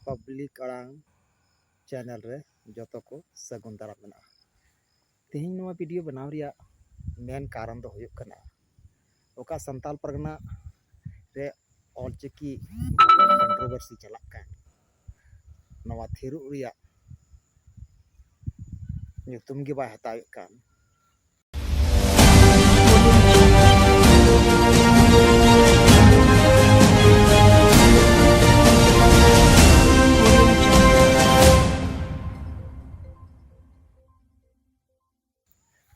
public ᱟᱲᱟᱝ channel ᱨᱮ ᱡᱚᱛᱚ ᱠᱚ ᱥᱟᱹᱜᱩᱱ ᱫᱟᱨᱟᱢ ᱢᱮᱱᱟᱜᱼᱟ ᱛᱮᱦᱮᱧ ᱱᱚᱣᱟ ᱵᱷᱤᱰᱤᱭᱳ ᱵᱮᱱᱟᱣ ᱨᱮᱭᱟᱜ ᱢᱮᱱ ᱠᱟᱨᱚᱱ ᱫᱚ ᱦᱩᱭᱩᱜ ᱠᱟᱱᱟ ᱚᱠᱟ ᱥᱟᱱᱛᱟᱲ ᱯᱟᱨᱜᱟᱱᱟ ᱨᱮ ᱚᱞ ᱪᱤᱠᱤ ᱠᱚᱱᱴᱨᱳᱵᱷᱟᱨᱥᱤ ᱪᱟᱞᱟᱜ ᱠᱟᱱ ᱱᱚᱣᱟ ᱛᱷᱤᱨᱚᱜ ᱨᱮᱭᱟᱜ ᱧᱩᱛᱩᱢ ᱜᱮ ᱵᱟᱭ ᱦᱟᱛᱟᱣᱮᱫ ᱠᱟᱱ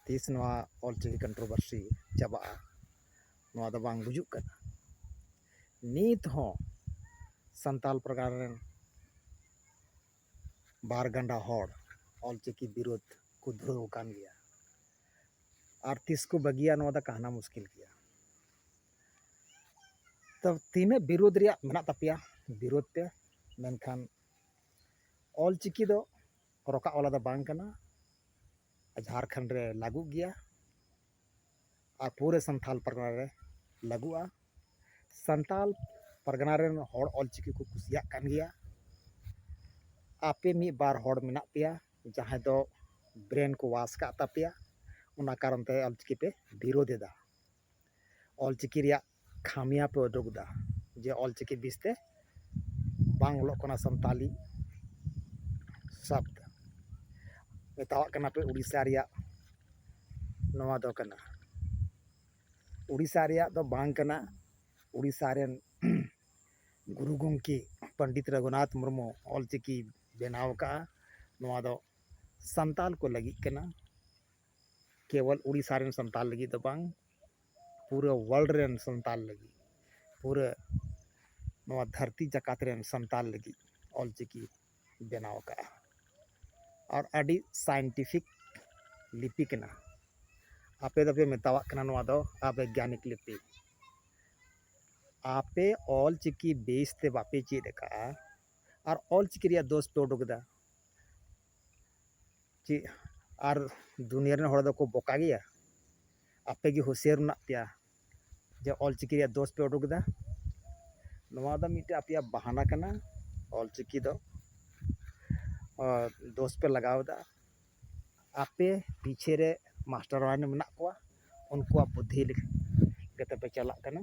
ᱛᱤᱥ ᱱᱚᱣᱟ ᱚᱞᱪᱤᱠᱤ ᱠᱚᱱᱴᱨᱳᱵᱷᱟᱨᱥᱤ ᱪᱟᱵᱟᱜᱼᱟ ᱱᱚᱣᱟ ᱫᱚ ᱵᱟᱝ ᱵᱩᱡᱩᱜ ᱠᱟᱱᱟ ᱱᱤᱛ ᱦᱚᱸ ᱥᱟᱱᱛᱟᱞ ᱯᱟᱨᱜᱟᱱᱟ ᱨᱮᱱ ᱵᱟᱨ ᱜᱟᱱᱰᱟ ᱦᱚᱲ ᱚᱞ ᱪᱤᱠᱤ ᱵᱤᱨᱩᱫᱷ ᱠᱚ ᱫᱷᱩᱨᱟᱹᱣ ᱟᱠᱟᱱ ᱜᱮᱭᱟ ᱟᱨ ᱛᱤᱥ ᱠᱚ ᱵᱟᱹᱜᱤᱭᱟ ᱱᱚᱣᱟ ᱫᱚ ᱠᱟᱦᱱᱟ ᱢᱩᱥᱠᱤᱞ ᱜᱮᱭᱟ ᱛᱚ ᱛᱤᱱᱟᱹᱜ ᱵᱤᱨᱩᱫᱷ ᱨᱮᱭᱟᱜ ᱢᱮᱱᱟᱜ ᱛᱟᱯᱮᱭᱟ ᱵᱤᱨᱩᱫᱷ ᱯᱮ ᱢᱮᱱᱠᱷᱟᱱ ᱚᱞ ᱪᱤᱠᱤ ᱫᱚ ᱨᱚᱠᱟ ᱚᱞᱟᱜ ᱫᱚ ᱵᱟᱝ ᱠᱟᱱᱟ ᱡᱷᱟᱲᱠᱷᱚᱸᱰ ᱨᱮ ᱞᱟᱹᱜᱩᱜ ᱜᱮᱭᱟ ᱟᱨ ᱯᱩᱨᱟᱹ ᱥᱟᱱᱛᱟᱲ ᱯᱟᱨᱜᱟᱱᱟ ᱨᱮ ᱞᱟᱹᱜᱩᱜᱼᱟ ᱥᱟᱱᱛᱟᱲ ᱯᱟᱨᱜᱟᱱᱟ ᱨᱮᱱ ᱦᱚᱲ ᱚᱞ ᱪᱤᱠᱤ ᱠᱚ ᱠᱩᱥᱤᱭᱟᱜ ᱠᱟᱱ ᱜᱮᱭᱟ ᱟᱯᱮ ᱢᱤᱫ ᱵᱟᱨ ᱦᱚᱲ ᱢᱮᱱᱟᱜ ᱯᱮᱭᱟ ᱡᱟᱦᱟᱸᱭ ᱫᱚ ᱵᱨᱮᱱ ᱠᱚ ᱚᱣᱟᱥ ᱠᱟᱜ ᱛᱟᱯᱮᱭᱟ ᱚᱱᱟ ᱠᱟᱨᱚᱱ ᱛᱮ ᱚᱞ ᱪᱤᱠᱤ ᱯᱮ ᱵᱤᱨᱳᱫᱷ ᱮᱫᱟ ᱚᱞ ᱪᱤᱠᱤ ᱨᱮᱭᱟᱜ ᱠᱷᱟᱢᱤᱭᱟ ᱯᱮ ᱩᱫᱩᱜ ᱮᱫᱟ ᱡᱮ ᱚᱞ ᱪᱤᱠᱤ ᱵᱤᱥ ᱛᱮ ᱵᱟᱝ ᱚᱞᱚᱜ ᱠᱟᱱᱟ ᱥᱟᱱᱛᱟᱞᱤ ᱥᱚᱵᱽᱫᱽ ᱢᱮᱛᱟᱣᱟᱜ ᱠᱟᱱᱟ ᱯᱮ ᱩᱲᱤᱥᱥᱟ ᱨᱮᱭᱟᱜ ᱱᱚᱣᱟ ᱫᱚ ᱠᱟᱱᱟ ᱩᱲᱤᱥᱥᱟ ᱨᱮᱭᱟᱜ ᱫᱚ ᱵᱟᱝ ᱠᱟᱱᱟ ᱩᱲᱤᱥᱥᱟ ᱨᱮᱱ ᱜᱩᱨᱩ ᱜᱚᱝᱠᱮ ᱯᱚᱱᱰᱤᱛ ᱨᱚᱜᱷᱩᱱᱟᱛᱷ ᱢᱩᱨᱢᱩ ᱚᱞ ᱪᱤᱠᱤ ᱵᱮᱱᱟᱣ ᱟᱠᱟᱫᱼᱟ ᱱᱚᱣᱟ ᱫᱚ ᱥᱟᱱᱛᱟᱞ ᱠᱚ ᱞᱟᱹᱜᱤᱫ ᱠᱟᱱᱟ ᱠᱮᱵᱚᱞ ᱩᱲᱤᱥᱥᱟ ᱨᱮᱱ ᱥᱟᱱᱛᱟᱞ ᱞᱟᱹᱜᱤᱫ ᱫᱚ ᱵᱟᱝ ᱯᱩᱨᱟᱹ ᱳᱣᱟᱨᱞᱰ ᱨᱮᱱ ᱥᱟᱱᱛᱟᱲ ᱞᱟᱹᱜᱤᱫ ᱯᱩᱨᱟᱹ ᱱᱚᱣᱟ ᱫᱷᱟᱹᱨᱛᱤ ᱡᱟᱠᱟᱛ ᱨᱮᱱ ᱥᱟᱱᱛᱟᱲ ᱞᱟᱹᱜᱤᱫ ᱚᱞ ᱪᱤᱠᱤ ᱵᱮᱱᱟᱣ ᱟᱠᱟᱫᱼᱟ ᱟᱨ ᱟᱹᱰᱤ ᱥᱟᱭᱮᱱᱴᱤᱯᱷᱤᱠ ᱞᱤᱯᱤ ᱠᱟᱱᱟ ᱟᱯᱮ ᱫᱚᱯᱮ ᱢᱮᱛᱟᱣᱟᱜ ᱠᱟᱱᱟ ᱱᱚᱣᱟ ᱫᱚ ᱟᱵᱮᱜᱽᱜᱟᱱᱤᱠ ᱞᱤᱯᱤ ᱟᱯᱮ ᱚᱞ ᱪᱤᱠᱤ ᱵᱮᱥ ᱛᱮ ᱵᱟᱯᱮ ᱪᱮᱫ ᱟᱠᱟᱫᱼᱟ ᱟᱨ ᱚᱞ ᱪᱤᱠᱤ ᱨᱮᱭᱟᱜ ᱫᱳᱥ ᱯᱮ ᱩᱰᱩᱠ ᱮᱫᱟ ᱪᱮᱫ ᱟᱨ ᱫᱩᱱᱤᱭᱟᱹ ᱨᱮᱱ ᱦᱚᱲ ᱫᱚᱠᱚ ᱵᱚᱠᱟ ᱜᱮᱭᱟ ᱟᱯᱮ ᱜᱮ ᱦᱩᱥᱭᱟᱹᱨ ᱢᱮᱱᱟᱜ ᱯᱮᱭᱟ ᱡᱮ ᱚᱞ ᱪᱤᱠᱤ ᱨᱮᱭᱟᱜ ᱫᱳᱥ ᱯᱮ ᱩᱰᱩᱠ ᱮᱫᱟ ᱱᱚᱣᱟ ᱫᱚ ᱢᱤᱫᱴᱮᱱ ᱟᱯᱮᱭᱟᱜ ᱵᱟᱦᱟᱱᱟ ᱠᱟᱱᱟ ᱚᱞ ᱪᱤᱠᱤ ᱫᱚ ᱫᱳᱥ ᱯᱮ ᱞᱟᱜᱟᱣ ᱮᱫᱟ ᱟᱯᱮ ᱯᱤᱪᱷᱮ ᱨᱮ ᱢᱟᱥᱴᱟᱨ ᱢᱟᱭᱱᱮ ᱢᱮᱱᱟᱜ ᱠᱚᱣᱟ ᱩᱱᱠᱩᱣᱟᱜ ᱵᱩᱫᱽᱫᱷᱤ ᱞᱮᱠᱟᱛᱮ ᱯᱮ ᱪᱟᱞᱟᱜ ᱠᱟᱱᱟ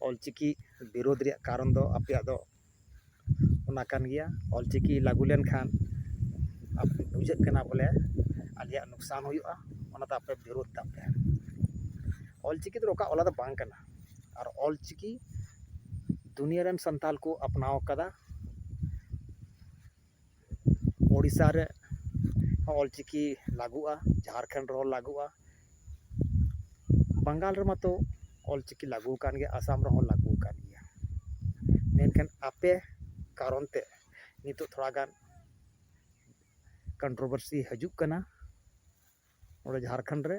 ᱚᱞ ᱪᱤᱠᱤ ᱵᱤᱨᱳᱫᱷ ᱨᱮᱭᱟᱜ ᱠᱟᱨᱚᱱ ᱫᱚ ᱟᱯᱮᱭᱟᱜ ᱫᱚ ᱚᱱᱟ ᱠᱟᱱ ᱜᱮᱭᱟ ᱚᱞ ᱪᱤᱠᱤ ᱞᱟᱹᱜᱩ ᱞᱮᱱᱠᱷᱟᱱ ᱵᱩᱡᱷᱟᱹᱜ ᱠᱟᱱᱟ ᱵᱚᱞᱮ ᱟᱞᱮᱭᱟᱜ ᱞᱚᱠᱥᱟᱱ ᱦᱩᱭᱩᱜᱼᱟ ᱚᱱᱟᱛᱮ ᱟᱯᱮ ᱵᱤᱨᱳᱫᱷ ᱛᱟᱯᱮ ᱚᱞ ᱪᱤᱠᱤ ᱫᱚ ᱨᱚᱠᱟ ᱚᱞᱟᱜ ᱫᱚ ᱵᱟᱝ ᱠᱟᱱᱟ ᱟᱨ ᱚᱞ ᱪᱤᱠᱤ ᱫᱩᱱᱤᱭᱟᱹ ᱨᱮᱱ ᱥᱟᱱᱛᱟᱲ ᱠᱚ ᱟᱯᱱᱟᱣ ᱠᱟᱫᱟ ᱳᱰᱤᱥᱟ ᱨᱮ ᱚᱞ ᱪᱤᱠᱤ ᱞᱟᱜᱩᱜᱼᱟ ᱡᱷᱟᱲᱠᱷᱚᱸᱰ ᱨᱮᱦᱚᱸ ᱞᱟᱜᱩᱜᱼᱟ ᱵᱟᱝᱜᱟᱞ ᱨᱮ ᱢᱟᱛᱚ ᱚᱞ ᱪᱤᱠᱤ ᱞᱟᱜᱩᱣ ᱠᱟᱱ ᱜᱮᱭᱟ ᱟᱥᱟᱢ ᱨᱮᱦᱚᱸ ᱞᱟᱜᱩᱣ ᱠᱟᱱ ᱜᱮᱭᱟ ᱢᱮᱱᱠᱷᱟᱱ ᱟᱯᱮ ᱠᱟᱨᱚᱱ ᱛᱮ ᱱᱤᱛᱳᱜ ᱛᱷᱚᱲᱟ ᱜᱟᱱ ᱠᱚᱱᱴᱨᱚᱵᱚᱨᱥᱤ ᱦᱟᱹᱡᱩᱜ ᱠᱟᱱᱟ ᱚᱸᱰᱮ ᱡᱷᱟᱲᱠᱷᱚᱸᱰ ᱨᱮ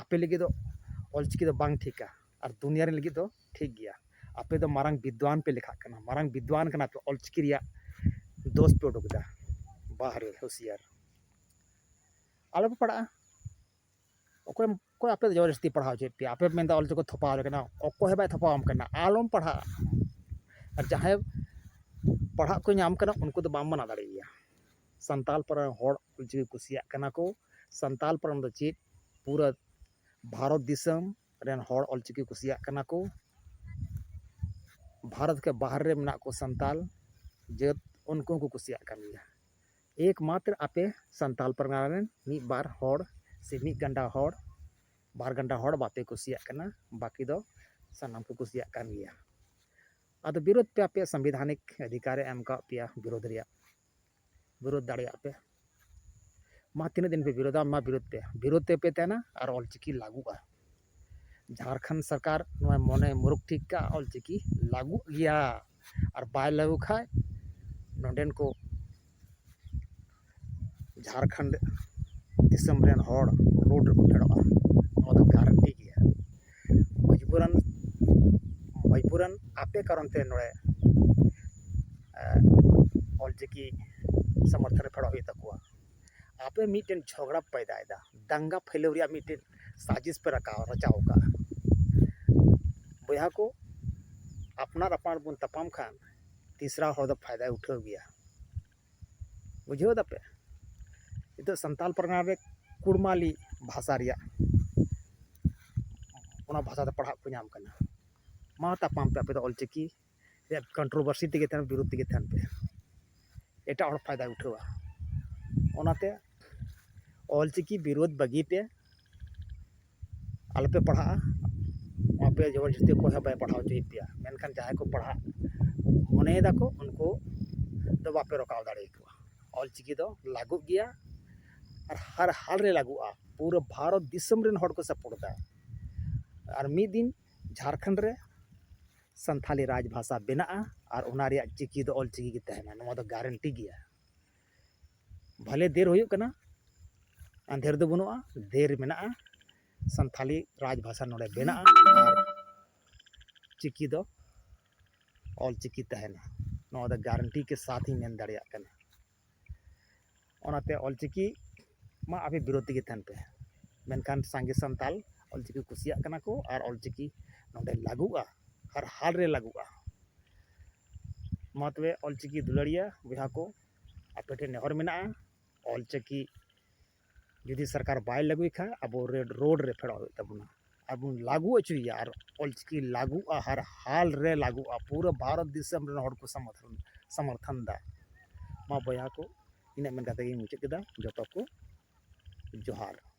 ᱟᱯᱮ ᱞᱟᱹᱜᱤᱫ ᱫᱚ ᱚᱞ ᱪᱤᱠᱤ ᱫᱚ ᱵᱟᱝ ᱴᱷᱤᱠᱟ ᱟᱨ ᱫᱩᱱᱤᱭᱟᱹ ᱨᱮᱱ ᱞᱟᱹᱜᱤᱫ ᱫᱚ ᱴᱷᱤᱠ ᱜᱮᱭᱟ ᱟᱯᱮ ᱫᱚ ᱢᱟᱨᱟᱝ ᱵᱤᱫᱽᱫᱟᱱ ᱯᱮ ᱞᱮᱠᱷᱟᱜ ᱠᱟᱱᱟ ᱢᱟᱨᱟᱝ ᱵᱤᱫᱽᱫᱟᱱ ᱠᱟᱱᱟ ᱯᱮ ᱚᱞ ᱪᱤᱠᱤ ᱨᱮᱭᱟᱜ ᱫᱳᱥ ᱯᱮ ᱩᱰᱩᱠ ᱮᱫᱟ ᱵᱟᱦ ᱨᱮ ᱦᱩᱥᱤᱭᱟᱨ ᱟᱞᱚ ᱯᱮ ᱯᱟᱲᱟᱜᱼᱟ ᱚᱠᱚᱭ ᱚᱠᱚᱭ ᱟᱯᱮ ᱫᱚ ᱡᱚᱵᱚᱨᱫᱚᱥᱛᱤ ᱯᱟᱲᱦᱟᱣ ᱦᱚᱪᱚᱭᱮᱫ ᱯᱮᱭᱟ ᱟᱯᱮ ᱯᱮ ᱢᱮᱱᱫᱟ ᱚᱞ ᱪᱤᱠᱤ ᱛᱷᱚᱯᱟᱣ ᱟᱞᱮ ᱠᱟᱱᱟ ᱚᱠᱚᱭ ᱦᱚᱸ ᱵᱟᱭ ᱛᱷᱚᱯᱟᱣᱟᱢ ᱠᱟᱱᱟ ᱟᱞᱚᱢ ᱯᱟᱲᱦᱟᱜᱼᱟ ᱟᱨ ᱡᱟᱦᱟᱸᱭ ᱯᱟᱲᱦᱟᱜ ᱠᱚ ᱧᱟᱢ ᱠᱟᱱᱟ ᱩᱱᱠᱩ ᱫᱚ ᱵᱟᱢ ᱢᱟᱱᱟ ᱫᱟᱲᱮᱭᱟᱭᱟ ᱥᱟᱱᱛᱟᱲ ᱯᱟᱨᱜᱟᱱᱟ ᱨᱮᱱ ᱦᱚᱲ ᱚᱞ ᱪᱤᱠᱤ ᱠᱩᱥᱤᱭᱟᱜ ᱠᱟᱱᱟ ᱠᱚ ᱥᱟᱱᱛᱟᱲ ᱯᱟᱨᱜᱟᱱᱟ ᱫᱚ ᱪᱮᱫ ᱯᱩᱨᱟᱹ ᱵᱷᱟᱨᱚᱛ ᱫᱤᱥᱚᱢ ᱨᱮᱱ ᱦᱚᱲ ᱚᱞ ᱪᱤᱠᱤ ᱠᱩᱥᱤᱭᱟᱜ ᱠᱟᱱᱟ ᱠᱚ ᱵᱷᱟᱨᱚᱛ ᱠᱮ ᱵᱟᱦᱨᱮ ᱨᱮ ᱢᱮᱱᱟᱜ ᱠᱚ ᱥᱟᱱᱛᱟᱲ ᱡᱟᱹᱛ ᱩᱱᱠᱩ ᱦᱚᱸᱠᱚ ᱠᱩᱥᱤᱭᱟᱜ ᱠᱟᱱ ᱜᱮᱭᱟ ᱮᱠ ᱢᱟᱛᱨᱚ ᱟᱯᱮ ᱥᱟᱱᱛᱟᱲ ᱯᱟᱨᱜᱟᱱᱟ ᱨᱮᱱ ᱢᱤᱫ ᱵᱟᱨ ᱦᱚᱲ ᱥᱮ ᱢᱤᱫ ᱜᱟᱱᱰᱟ ᱦᱚᱲ ᱵᱟᱨ ᱜᱟᱱᱰᱟ ᱦᱚᱲ ᱵᱟᱯᱮ ᱠᱩᱥᱤᱭᱟᱜ ᱠᱟᱱᱟ ᱵᱟᱹᱠᱤ ᱫᱚ ᱥᱟᱱᱟᱢ ᱠᱚ ᱠᱩᱥᱤᱭᱟᱜ ᱠᱟᱱ ᱜᱮᱭᱟ ᱟᱫᱚ ᱵᱤᱨᱳᱫᱷ ᱯᱮ ᱟᱯᱮᱭᱟᱜ ᱥᱟᱝᱵᱤᱫᱷᱟᱱᱤᱠ ᱚᱫᱷᱤᱠᱟᱨᱮ ᱮᱢ ᱠᱟᱜ ᱯᱮᱭᱟ ᱵᱤᱨᱳᱫᱷ ᱨᱮᱭᱟᱜ ᱵᱤᱨᱳᱫ ᱫᱟᱲᱮᱭᱟᱜ ᱯᱮ ᱢᱟ ᱛᱤᱱᱟᱹᱜ ᱫᱤᱱ ᱯᱮ ᱵᱤᱨᱳᱫᱟ ᱢᱟ ᱵᱤᱨᱳᱫ ᱯᱮ ᱵᱤᱨᱳᱫ ᱛᱮᱯᱮ ᱛᱟᱦᱮᱱᱟ ᱟᱨ ᱚᱞ ᱪᱤᱠᱤ ᱞᱟᱹᱜᱩᱜᱼᱟ ᱡᱷᱟᱲᱠᱷᱚᱸᱰ ᱥᱚᱨᱠᱟᱨ ᱱᱚᱣᱟ ᱢᱚᱱᱮ ᱢᱩᱨᱩᱠᱷ ᱴᱷᱤᱠ ᱠᱟᱜᱼᱟ ᱚᱞ ᱪᱤᱠᱤ ᱞᱟᱹᱜᱩᱜ ᱜᱮᱭᱟ ᱟᱨ ᱵᱟᱭ ᱞᱟᱹᱜᱩ ᱠᱷᱟᱱ ᱱᱚᱰᱮᱱ ᱠᱚ ᱡᱷᱟᱲᱠᱷᱚᱸᱰ ᱫᱤᱥᱚᱢ ᱨᱮᱱ ᱦᱚᱲ ᱨᱳᱰ ᱨᱮᱠᱚ ᱯᱷᱮᱰᱚᱜᱼᱟ ᱱᱚᱣᱟ ᱫᱚ ᱜᱟᱨᱮᱱᱴᱤ ᱜᱮᱭᱟ ᱢᱚᱡᱽᱵᱩᱨᱟᱱ ᱢᱚᱡᱽᱵᱩᱨᱟᱱ ᱟᱯᱮ ᱠᱟᱨᱚᱱ ᱛᱮ ᱱᱚᱰᱮ ᱚᱞ ᱪᱤᱠᱤ ᱥᱚᱢᱚᱨᱛᱷᱚᱱ ᱨᱮ ᱯᱷᱮᱰᱚᱜ ᱦᱩᱭᱩᱜ ᱛᱟᱠᱚᱣᱟ ᱟᱯᱮ ᱢᱤᱫᱴᱮᱱ ᱡᱷᱚᱜᱽᱲᱟ ᱯᱮ ᱯᱟᱸᱡᱟᱭᱮᱫᱟ ᱫᱟᱝᱜᱟ ᱯᱷᱟᱹᱭᱞᱟᱹᱣ ᱨᱮᱭᱟᱜ ᱢᱤᱫᱴᱮᱱ ᱥᱟᱡᱤᱥ ᱯᱮ ᱨᱟᱠᱟᱵ ᱨᱟᱪᱟᱣ ᱟᱠᱟᱫᱟ ᱵᱚᱭᱦᱟ ᱠᱚ ᱟᱯᱱᱟᱨ ᱟᱯᱱᱟᱨ ᱵᱚᱱ ᱛᱟᱯᱟᱢ ᱠᱷᱟᱱ ᱛᱤᱥᱨᱟ ᱦᱚᱲ ᱫᱚ ᱯᱷᱟᱭᱫᱟᱭ ᱩᱴᱷᱟᱹᱣ ᱜᱮᱭᱟ ᱵᱩᱡᱷᱟᱹᱣ ᱫᱟᱯᱮ ᱱᱤᱛᱚᱜ ᱥᱟᱱᱛᱟᱲ ᱯᱟᱨᱜᱟᱱᱟ ᱨᱮ ᱠᱩᱲᱢᱟᱞᱤ ᱵᱷᱟᱥᱟ ᱨᱮᱭᱟᱜ ᱚᱱᱟ ᱵᱷᱟᱥᱟ ᱛᱮ ᱯᱟᱲᱦᱟᱜ ᱠᱚ ᱧᱟᱢ ᱠᱟᱱᱟ ᱢᱟ ᱛᱟᱯᱟᱢ ᱯᱮ ᱟᱯᱮ ᱫᱚ ᱚᱞ ᱪᱤᱠᱤ ᱨᱮᱭᱟᱜ ᱠᱚᱱᱴᱨᱳᱵᱷᱟᱨᱥᱤ ᱛᱮᱜᱮ ᱛᱟᱦᱮᱱ ᱵᱤᱨᱩᱫᱽ ᱛᱮᱜᱮ ᱛᱟᱦᱮᱱ ᱯᱮ ᱮᱴᱟᱜ ᱦᱚᱲ ᱯᱷᱟᱭᱫᱟᱭ ᱩᱴᱷᱟᱹᱣᱟ ᱚᱱᱟᱛᱮ ᱚᱞ ᱪᱤᱠᱤ ᱵᱤᱨᱩᱫᱽ ᱵᱟᱹᱜᱤ ᱯᱮ ᱟᱞᱚᱯᱮ ᱯᱟᱲᱦᱟᱜᱼᱟ ᱟᱯᱮ ᱡᱚᱵᱚᱨ ᱡᱚᱥᱛᱤ ᱚᱠᱚᱭ ᱦᱚᱸ ᱵᱟᱭ ᱯᱟᱲᱦᱟᱣ ᱦᱚᱪᱚᱭᱮᱫ ᱯᱮᱭᱟ ᱢᱮᱱᱠᱷᱟᱱ ᱡᱟᱦᱟᱸᱭ ᱠᱚ ᱯᱟᱲᱦᱟᱜ ᱢᱚᱱᱮᱭ ᱫᱟᱠᱚ ᱩᱱᱠᱩ ᱫᱚ ᱵᱟᱯᱮ ᱨᱚᱠᱟᱣ ᱫᱟᱲᱮᱭᱟᱠᱚᱣᱟ ᱚᱞ ᱪᱤᱠᱤ ᱫᱚ ᱞᱟᱹᱜᱩᱜ ᱜᱮᱭᱟ ᱟᱨ ᱦᱟᱨ ᱦᱟᱞ ᱨᱮ ᱞᱟᱹᱜᱩᱜᱼᱟ ᱯᱩᱨᱟᱹ ᱵᱷᱟᱨᱚᱛ ᱫᱤᱥᱚᱢ ᱨᱮᱱ ᱦᱚᱲ ᱠᱚ ᱥᱟᱯᱳᱨᱴ ᱮᱫᱟ ᱟᱨ ᱢᱤᱫ ᱫᱤᱱ ᱡᱷᱟᱲᱠᱷᱚᱸᱰ ᱨᱮ ᱥᱟᱱᱛᱷᱟᱞᱤ ᱨᱟᱡᱽ ᱵᱷᱟᱥᱟ ᱵᱮᱱᱟᱜᱼᱟ ᱟᱨ ᱚᱱᱟ ᱨᱮᱭᱟᱜ ᱪᱤᱠᱤ ᱫᱚ ᱚᱞ ᱪᱤᱠᱤ ᱜᱮ ᱛᱟᱦᱮᱱᱟ ᱱᱚᱣᱟ ᱫᱚ ᱜᱮᱨᱮᱱᱴᱤ ᱜᱮᱭᱟ ᱵᱷᱟᱞᱮ ᱫᱮᱨ ᱦᱩᱭᱩᱜ ᱠᱟᱱᱟ ᱟᱸᱫᱷᱮᱨ ᱫᱚ ᱵᱟᱹᱱᱩᱜᱼᱟ ᱫᱮᱨ ᱢᱮᱱᱟᱜᱼᱟ ᱥᱟᱱᱛᱷᱟᱞᱤ ᱨᱟᱡᱽ ᱵᱷᱟᱥᱟ ᱱᱚᱰᱮ ᱵᱮᱱᱟᱜᱼᱟ ᱟᱨ ᱪᱤᱠᱤ ᱫᱚ ᱚᱞ ᱪᱤᱠᱤ ᱛᱟᱦᱮᱱᱟ ᱱᱚᱣᱟ ᱫᱚ ᱜᱟᱨᱮᱱᱴᱤ ᱠᱮ ᱥᱟᱛ ᱤᱧ ᱢᱮᱱ ᱫᱟᱲᱮᱭᱟᱜ ᱠᱟᱱᱟ ᱚᱱᱟᱛᱮ ᱚᱞ ᱪᱤᱠᱤ ᱢᱟ ᱟᱯᱮ ᱵᱤᱨᱳᱫᱷ ᱛᱮᱜᱮ ᱛᱟᱦᱮᱱ ᱯᱮ ᱢᱮᱱᱠᱷᱟᱱ ᱥᱟᱸᱜᱮ ᱥᱟᱱᱛᱟᱞ ᱚᱞ ᱪᱤᱠᱤ ᱠᱩᱥᱤᱭᱟᱜ ᱠᱟᱱᱟ ᱠᱚ ᱟᱨ ᱚᱞ ᱪᱤᱠᱤ ᱱᱚᱰᱮ ᱞᱟᱹᱜᱩᱜᱼᱟ ᱟᱨ ᱦᱟᱞ ᱨᱮ ᱞᱟᱹᱜᱩᱜᱼᱟ ᱢᱟ ᱛᱚᱵᱮ ᱚᱞ ᱪᱤᱠᱤ ᱫᱩᱞᱟᱹᱲᱤᱭᱟᱹ ᱵᱚᱭᱦᱟ ᱠᱚ ᱟᱯᱮ ᱴᱷᱮᱱ ᱱᱮᱦᱚᱨ ᱢᱮᱱᱟᱜᱼᱟ ᱚᱞ ᱪᱤᱠᱤ ᱡᱩᱫᱤ ᱥᱚᱨᱠᱟᱨ ᱵᱟᱭ ᱞᱟᱹᱜᱩᱭ ᱠᱷᱟᱱ ᱟᱵᱚ ᱨᱮᱰ ᱨᱳᱰ ᱨᱮ ᱯᱷᱮᱰᱚᱜ ᱦᱩᱭᱩᱜ ᱛᱟᱵᱚᱱᱟ ᱟᱨ ᱵᱚᱱ ᱞᱟᱹᱜᱩ ᱦᱚᱪᱚᱭᱮᱭᱟ ᱟᱨ ᱚᱞ ᱪᱤᱠᱤ ᱞᱟᱹᱜᱩᱜᱼᱟ ᱦᱟᱨ ᱦᱟᱞ ᱨᱮ ᱞᱟᱹᱜᱩᱜᱼᱟ ᱯᱩᱨᱟᱹ ᱵᱷᱟᱨᱚᱛ ᱫᱤᱥᱚᱢ ᱨᱮᱱ ᱦᱚᱲ ᱠᱚ ᱥᱚᱢᱚᱨᱛᱷᱚᱱ ᱥᱚᱢᱚᱨᱛᱷᱚᱱ ᱮᱫᱟ ᱢᱟ ᱵᱚᱭᱦᱟ ᱠᱚ ᱤᱱᱟᱹᱜ ᱢᱮᱱ ᱠᱟᱛᱮ ᱜᱤᱧ ᱢᱩᱪᱟᱹᱫ ᱠᱮᱫᱟ ᱡᱚᱛᱚ ᱠᱚ ᱡᱚᱦᱟᱨ